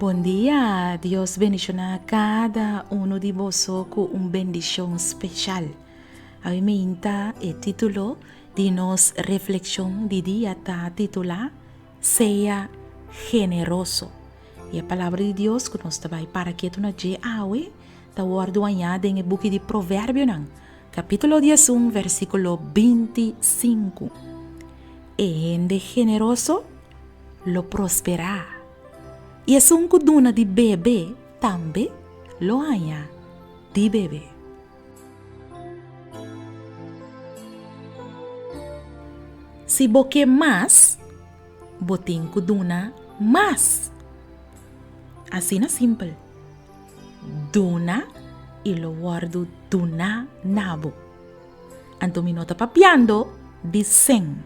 Bon dia! Dios bendiciona cada uno di boso cu un bendicion special. Awe mi inta e titulo di nos reflexion di dia ta titula, Sea generoso. I e palabra di Dios ku nos ta bai para ketu na dje awe ta wòrdu añá den e buki di Proverbionan, kapítulo dies un, versíkulo binti sinku. E hende generoso lo prosperá, i esun ku duna di bebe tambe lo haña di bebe. Si bo ke mas, bo tin ku duna mas. Asina simpel. Duna i lo wòrdu duná na bo. Anto mi no ta papiando di sen.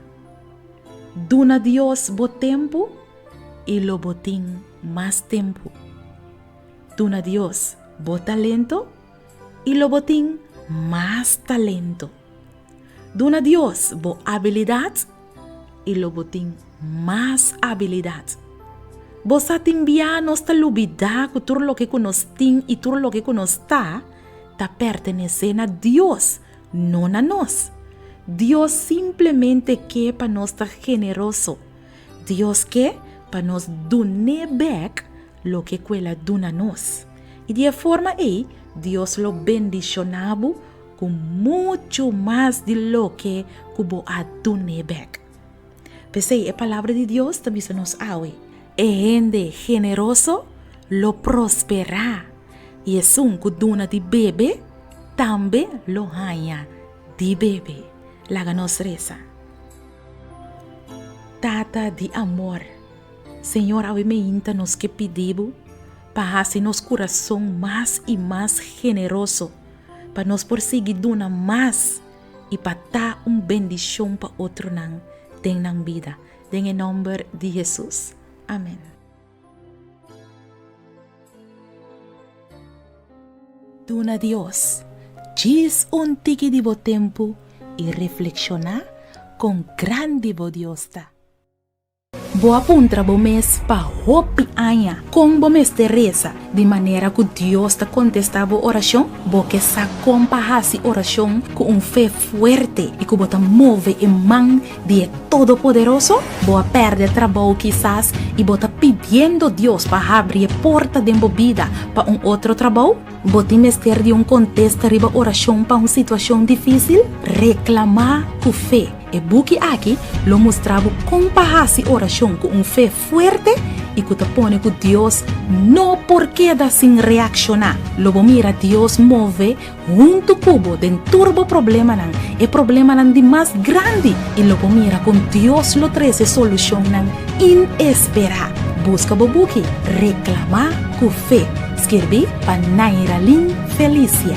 Duna Dios bo tempu i lo bo tin mas tempu. Duna Dios bo talento. y lo bo tin mas talento. Duna Dios bo abilidad y lo bo tin mas abilidad. Bo sa tin bia nos ta lubida cu tur loke cu nos tin y tur loke cu nos ta, ta pertenece na Dios, no na nos. Dios simplemente ke pa nos ta generoso. Dios ke pa nos dun'é bek Loke ku el a duna nos. I di e forma ei Dios lo bendishoná bo ku muchu mas di loke ku bo a dun'é bèk. P'esei e Palabra di Dios ta bisa nos awe, E hende generoso lo prosperá, i esun ku duna di bebe tambe lo haña di bebe. Laga nos resa, Tata di amor. Señor, awe meinta nos ke pidi Bo pa hasi nos kurason mas i mas generoso, pa nos por sigui duna mas i pa ta un bendishon pa otronan den nan bida. Den e nòmber di Hesus. Amèn. Duna Dios djis un tiki di bo tempu i reflekshoná kon grandi bo Dios ta. Bo a puntra bo mes pa hopi aña kon bo mester resa di manera ku Dios ta kontestá bo orashon? Bo ke sa kon pa hasi orashon ku un fe fuerte i ku bo ta move e man di e Todopoderoso? Bo a pèrdè trabou kisas i bo ta pidiendo Dios pa habri e porta den bo bida pa un otro trabou? Bo tin mester di un kontesta riba orashon pa un situashon difísil? Reklamá ku fe. E buki aki lo mustra bo kon pa hasi orashon ku un fe fuerte i ku ta pone ku Dios no por keda sin reakshoná. Lo bo mira Dios move huntu ku bo den tur bo problemanan, e problemanan di mas grandi, i lo bo mira kon Dios lo trese solushonnan inesperá. Buska bo buki Reklamá ku fe, skirbí pa Nairalyn Felicia.